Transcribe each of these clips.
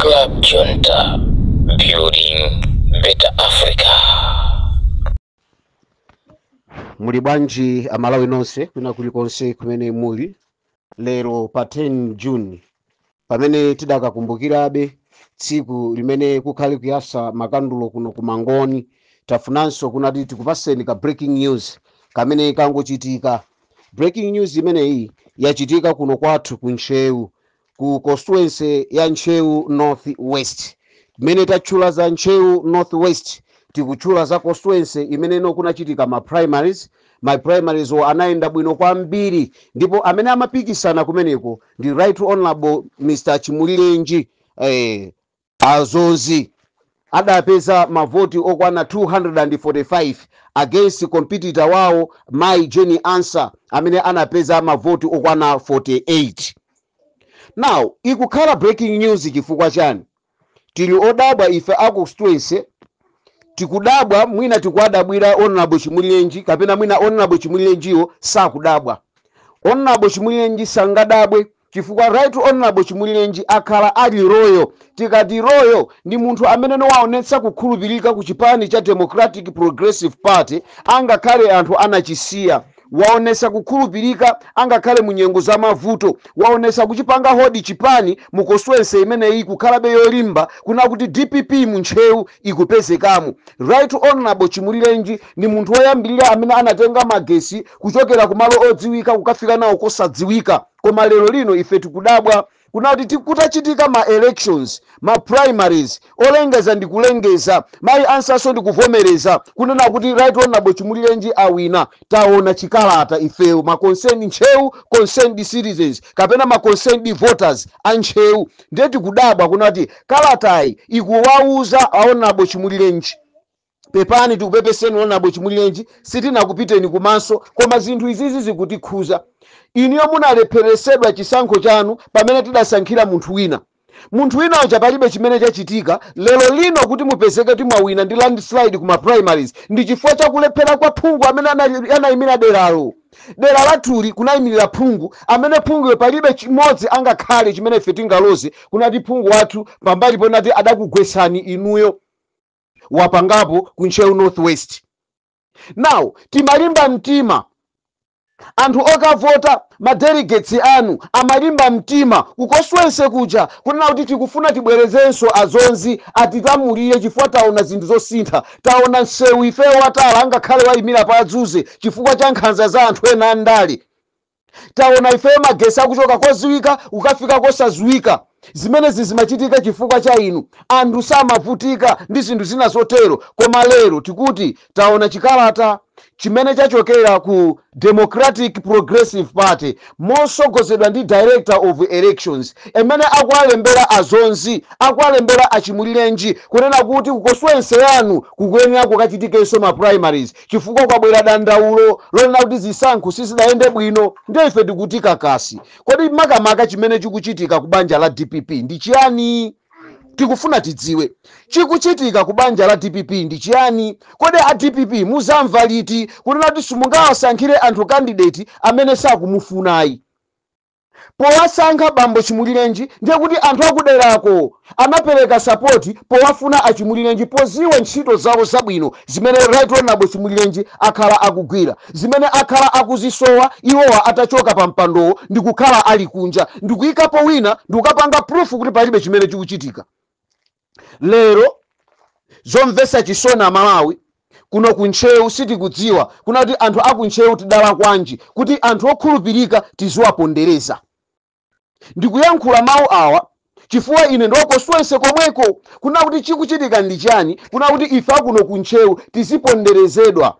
Club Junta, building better Africa. muli bwanji amalawi nonse kwina kulikonse kumene muli lero pa 10 june pamene tidakakumbukirabe tsiku limene kukhale kuyasa makandulo kuno ku mangoni tafunanso kunati tikupaseni ka breaking news kamene kangochitika breaking news imeneyi yachitika kuno kwathu ku ntcheu ku constituency ya ntcheu north west mmene tatchula za ntcheu north west tikutchula za constituency imeneno kunachitika ma primaries ma primarieswo anayenda bwino kwambiri ndipo amene amapikisana kumeneko ndi right honorable mr chimulirenji eh, A Dzonzi adapeza mavoti okwana 245 against competitor wawo mayi Jane Ansah amene anapeza mavoti okwana 48. Now ikukhala breaking news chifukwa chani? Tili odabwa ife a constituency tikudabwa mwina tikuwadabwira Honourable Chimulirenji kapena mwina Honourable Chimulirenjiwo sakudabwa. Honourable Chimulirenji sangadabwe chifukwa Right Honourable Chimulirenji akhala ali loyal, tikati loyal ndi munthu ameneno waonetsa kukhulupirika ku chipani cha Democratic Progressive Party angakhale anthu anachisiya, waonetsa kukhulupirika angakhale mu nyengo za mavuto, waonetsa kuchipanga hold chipani mu constituency imeneyi kukhalabe yolimba kuna kuti dpp mu Ntcheu ikupezekamo. Right Honourable Chimulirenji Ndi munthu woyambirira amene anatenga magetsi kuchokera ku malo odziwika kukafika nawo kosadziwika. Koma lero lino ife tikudabwa kuna kuti ti, kutachitika ma elections, ma primaries, olengeza ndi kulengeza, mayi Ansahnso ndi kuvomereza kunena kuti Right Honourable Chimulirenji awina. Taona chikalata ifeyo ma concerned Ntcheu concerned citizens kapena ma concerned voters a Ntcheu ndiye tikudabwa kunati kalatayi ikuwauza a Honourable Chimulirenji. pepani tikupepeseni honourable chimulirenji sitinakupiteni kumaso koma zinthu izizi zikutikhuza inuyo munalepheresedwa chisankho chanu pamene tidasankhira munthu wina munthu wina uja palibe chimene chachitika lero lino kuti mupezeke kuti mwawina ndi landslide ku ma primaries ndi chifukwa chakulephera kwa phungu amene anayimira deralo dera lathuli kunayimirira phungu amene phunguyo palibe chimodzi angakhale chimene ife tingaloze kunati phungu wathu pambali ponati adakugwetsani inuyo wapangapo ku ntcheu north west now timalimba mtima anthu okavota madelegates anu amalimba mtima ku constituency kuja kunena kuti tikufuna tibwerezenso a dzonzi atilamulire chifukwa taona zinthu zosintha taona msewu ifeyo wa tala angakhale wayimira pa adzuze chifukwa cha nkhanza za anthu ena andale Taona ifeyo magesi akuchoka koziwika kukafika kosaziwika zimenezi zimachitika chifukwa cha inu. Anthu samavutika ndi zinthu zina zotero koma lero tikuti taona chikalata chimene chachokera ku Democratic Progressive Party mosogozedwa ndi Director of Elections imene akuwalembera a Dzonzi akuwalembera a Chimulirenji kunena kuti ku constituency yanu kukuyenera kukachitikenso ma primaries chifukwa kwabwera dandaulo lonena kuti zisankho sizidayende bwino ndiye ife tikuti kakasi. Kodi makamaka chimene chikuchitika ku banja la dpp ndi chiyani? Tikufuna tidziwe chikuchitika ku banja la dpp ndi chiyani. Kodi a dpp muzamva liti kunena kuti simungawasankhire anthu kandideti amene sakumufunayi? powasankha bambo Chimulilenji ndiye kuti anthu akuderako anapeleka support powafuna a Chimulilenji poziwa ntchito zawo zabwino zimene Right Honourable Chimulilenji akhala akugwira zimene akhala akuzisowa iwowa atachoka pa mpandowo ndikukhala ali kunja ndikuikapo wina ndikukapanga proof kuti palibe chimene chikuchitika. lero zomvesa chisoni amalawi kuno ku ntcheu sitikudziwa kuna kuti anthu aku ntcheu tidalakwanji kuti anthu okhulupirika tiziwapondereza ndikuyankhula mawu awa chifukwa ine ndi wa constituency komweko kuna kuti chikuchitika ndi chani kuna kuti ife akuno ku ntcheu tiziponderezedwa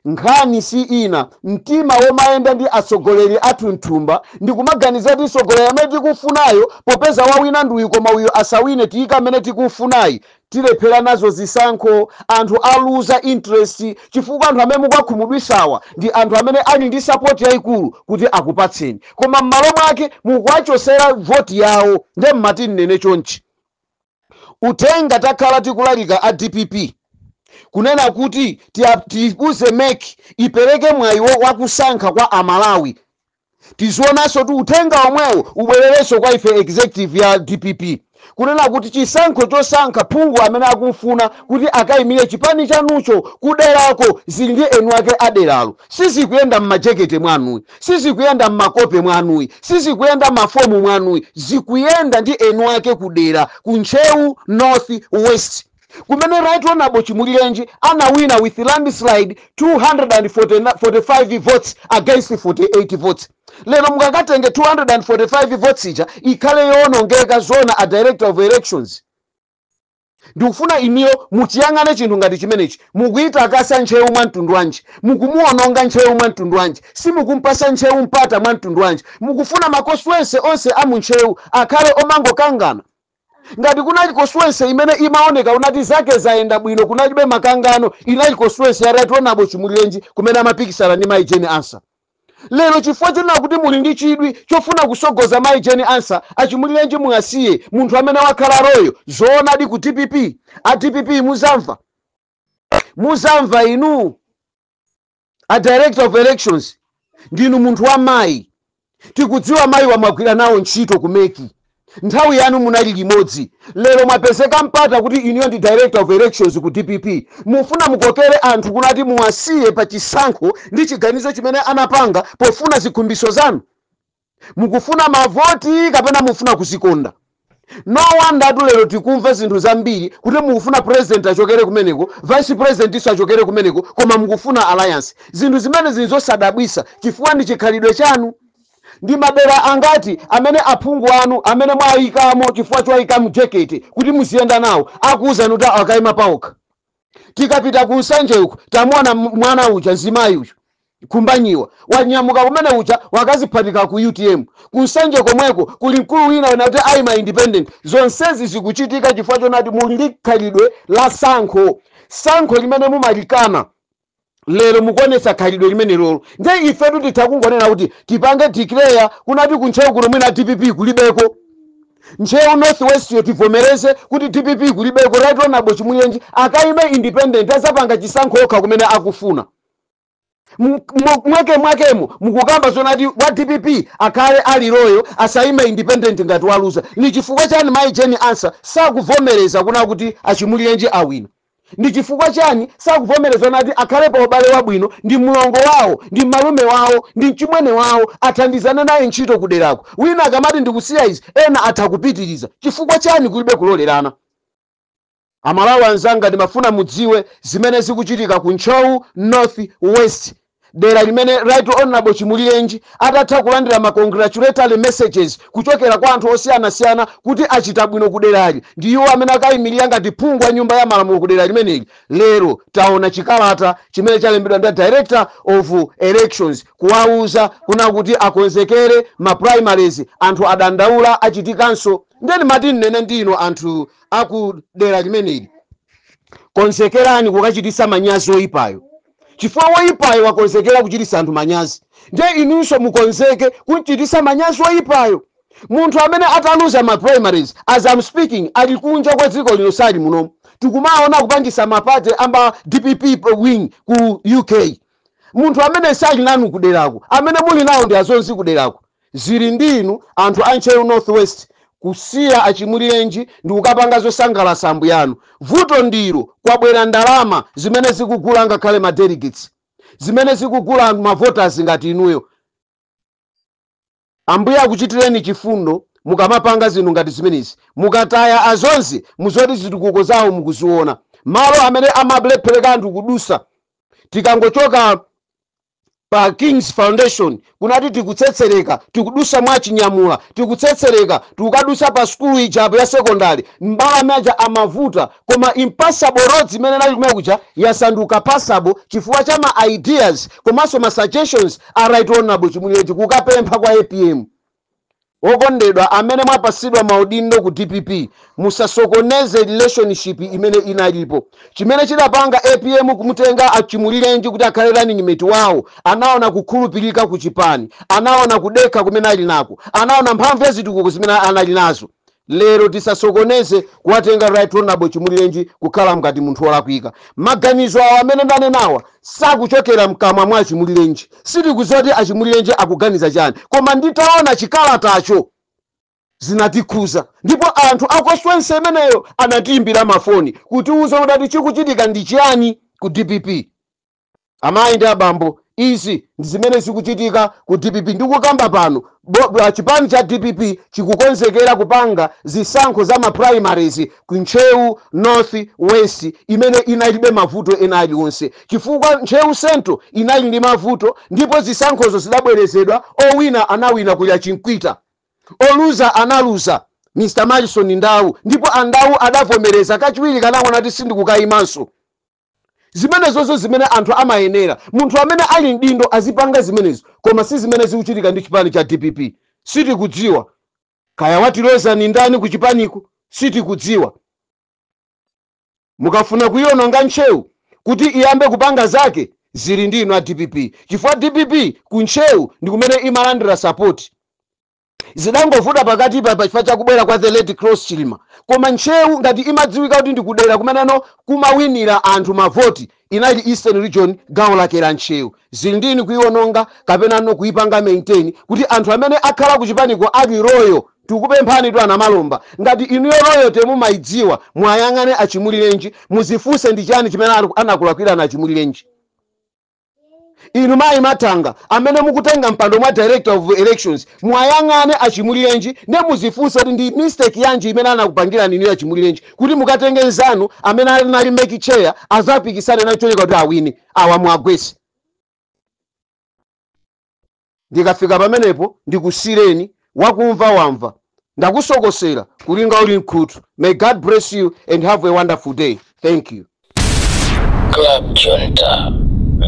Nkhani si ina, mtima womayenda ndi atsogoleri athu mthumba ndi kumaganiza kuti mtsogoleri amene tikufunayo popeza wawina ndi uyu koma uyo asawine tiyika amene tikufunayi tilephera nazo zisankho anthu aluza interest chifukwa anthu amene mukuwakhumudwisawa ndi anthu amene ali ndi support yaikulu kuti akupatseni koma mmalo mwake mukuwachosera vote yawo nde mmati nnene chonchi Uthenga takhala tikulalika a dpp kunena kuti tia, tiuze mec ipereke mwayi wo- wakusankha kwa amalawi tizionanso kuti uthenga omwewo ubwererenso kwa ife executive ya dpp kunena kuti chisankho chosankha phungu amene akumfuna kuti akaimire chipani chanucho kuderako zili ndi eni wake aderalo sizikuyenda mmajekete mwanuyi sizikuyenda mmakope mwanuyi, sizikuyenda mmafomu mwanuyi, zikuyenda ndi eni wake ku dera, ku Ntcheu north west kumene Right Honourable Chimulirenji anawina with landslide 245 votes against 48 votes. Lero mukakatenge 245 votes ija ikhale yowonongeka zoona a Director of Elections? Ndikufuna inuyo muchiyang'ane chinthu ngati chimenechi. Mukuitakasa ntcheu mwa mtundu wanji? Mukumuononga ntcheu mwa mtundu wanji? Simukumpasa ntcheu mpata mwa mtundu wanji? Mukufuna ma constuency onse a mu ntcheu akhale omangokangana? Ngati kunali constuency imene imaoneka kunati zake zayenda bwino kunalibe makangano inali constuency ya Right Honourable Chimulirenji kumene amapikisana ndi mayi Jane Ansah. lero chifukwa chonena kuti muli ndi chidwi chofuna kusogoza mayi jeni ansa achimulirenji muwasiye munthu amene wakhala loyal zoonadi ku dpp a dpp muzamva muzamva inu a director of elections ndinu munthu wa mayi tikudziwa mayi wamagwira nawo ntchito kumeki Nthawi yanu munali limodzi. Lero mwapezeka mpata kuti inuyo ndi director of elections ku dpp. Mufuna mukokere anthu kuno ati muwasiyire pa chisankho ndi chiganizo chimene anapanga pofuna zikhumbitso zanu? Mukufuna mavoti kapena mufuna kuzikonda? No wonder tu lero tikumva zinthu zambiri kuti mukufuna president achokere kumeneko, vice presidentnso achokere kumeneko koma mukufuna alliance. Zinthu zimenezi nzosadabwitsa chifukwa ndi chikhalidwe chanu. Ndi madera angati amene aphungu anu amene mwayikamo chifukwa chowayika mjekete kuti muziyenda nawo akuwuzani kuti akayima pawokha? Tikapita ku Nsanje uko tamuwona mwana uja mzimayi uja Khumbanyiwa wanyamuka kumene kuja wakaziphatika ku utm. Ku Nsanje komweko kuli mkulu wina wanena kuti ayima independent. Zonsezi zikuchitika chifukwa chonena kuti muli ndi khalidwe la sankho, sankho limene mumalikana. lero mukuonetsa khalidwe limenelolo nde ifetu titha kungonena kuti tipange declare kunati kuntcheu kuno mwina dpp kulibeko ntcheu north west yo tivomereze kuti dpp kulibeko right honorable chimulirenji akaime independent azapanga chisankho okha kumene akufuna M- mwa- mwake mwakemo mukukamba zonati wa dpp akhale ali loyal asaime independent ngati waluza ni chifukwa chani mayi jeni ansa sakuvomereza kuna kuti achimulirenji awina Ndi chifukwa chani sakuvomereza nati akhale pa ubale wabwino ndi mlongo wawo ndi malume wawo ndi mchimwene wawo athandizane naye ntchito kuderako wina akamati ndikusiya izi ena atha kupitiriza chifukwa chani kulibe kulolerana? Amalawi anzanga ndimafuna mudziwe zimene zikuchitika ku Ntcheu North West. dera limene Right Honorable Chimulirenji atatha kulandira ma congratulatory messages kuchokera kwa anthu osiyanasiyana kuti achita bwino kuderali ndi iwo amene akayimirira ngati phungu wa nyumba ya malamulo kudera limeneli, lero taona chikalata chimene chalembedwa ndi Director of Elections kuwauza kuna kuti akonzekere ma primaries, anthu adandaula achitikanso? Ndiye ndimati ndinene ndi inu anthu a ku dera limeneli, konzekerani kukachititsa manyazi oyipayo. chifukwa woyipayo wakonzekera kuchititsa anthu manyazi, ndiye inunso mukonzeke kumchititsa manyazi woyipayo. Munthu amene ataluza ma primaries as am speaking ali kunja kwa dziko lino sali munomu. Tikumaona kupangitsa ma party a mba dpp wing ku UK. Munthu amene sali nanu kuderako, amene muli nawo ndi azonzi kuderako. Zili ndi inu anthu a Ntcheu North West kusiya a Chimulirenji ndikukapanga zosangalasa ambuyanu. Vuto ndilo kwabwera ndalama zimene zikugula angakhale ma delegates, zimene zikugula anthu ma voters ngati inuyo. Ambuye akuchitireni chifundo mukamapanga zinthu ngati zimenezi. Mukataya a Dzonzi muziti zitukuko zawo mukuziona. Malo amene amalephereka anthu kudusa tikangochoka pa kings foundation kunati tikutsetsereka tikudusa mwa chinyamula tikutsetsereka tukadusa pa sukulu ija apo ya sekondari mbalame aja amavuta koma impassable roads imene inali kumene kuja yasanduka passable chifukwa cha ma ideas komanso ma suggestions a right honorable chimulirenji kukapempha kwa apm Okondedwa amene mwapasidwa maudindo ku dpp musasokoneze relationship imene inalipo. Chimene chidapanga apm kumutenga a Chimulirenji kuti akhale running mate wawo anaona kukhulupirika ku chipani, anaona kudekha kumene ali nako, anaona mphamvu ya zitukuko zimene anali nazo. lero tisasokoneze kuwatenga right honorable chimulirenji kukhala ngati munthu wolakwika maganizo awo amene ndanenawa sakuchokera mkamwa mwa achimulirenji sitikudziwa kuti achimulirenji akuganiza chani koma nditaona chikalatacho zinatikhuza ndipo anthu a constituency imeneyo anatiimbira mafoni kutiuza kuti chikuchitika ndi chiyani ku dpp Amayi ndi abambo, izi ndi zimene zikuchitika ku dpp. Ndikukamba pano a chipani cha dpp chikukonzekera kupanga zisankho za ma primaries ku Ntcheu North West imene inalibe mavuto ena alionse chifukwa Ntcheu Central inali ndi mavuto ndipo zisankhozo zidabwerezedwa, owina anawina kulya Chimkwita, oluza analuza Mr Malison Ndau ndipo a Ndau adavomereza kachiwiri kunena kuti sindikukayimanso. Zimenezozo zimene anthu amayenera munthu amene ali mdindo azipanga zimenezo koma sizimene zikuchitika ndi chipani cha dpp sitikudziwa Kaya watilodzani ndani kuchipaniku sitikudziwa mukafuna kuiononga ntcheu kuti iyambe kupanga zake zili ndi inu a dpp chifukwa dpp ku ntcheu ndikumene imalandira sapoti zidangovuta pakatipa pachifukwa cha kubwera kwa the late Klaus chilima koma ntcheu ngati imadziwika kuti ndikudera kumeneno kumawinira anthu mavoti inali eastern region gawo lake la ntcheu zili ndi inu kuiononga kapenanso kuipanga maintain kuti anthu amene akhala kuchipaniko ali loyal tikupemphanitu anamalomba ngati inuyo loyalty mumayidziwa muwayang'ane achimulirenji muzifunse ndi chani chimene anakulakwirani achimulirenji inu mayi mathanga amene mukutenga mpando mwa director of elections muwayang'ane achimulirenji nde muzifunse kuti ndi mistake yanji imene anakupangirani inu achimulirenji kuti mukatenge nzanu amene anali make chair azapikisane ndi cholinga kuti awine awa muwagwese ndikafika pamenepo ndikusiireni wakumva wamva ndakusokosera kulinga uli mkhutu may god bless you and have a wonderful day thank you Club Junta,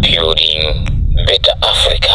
building better Africa.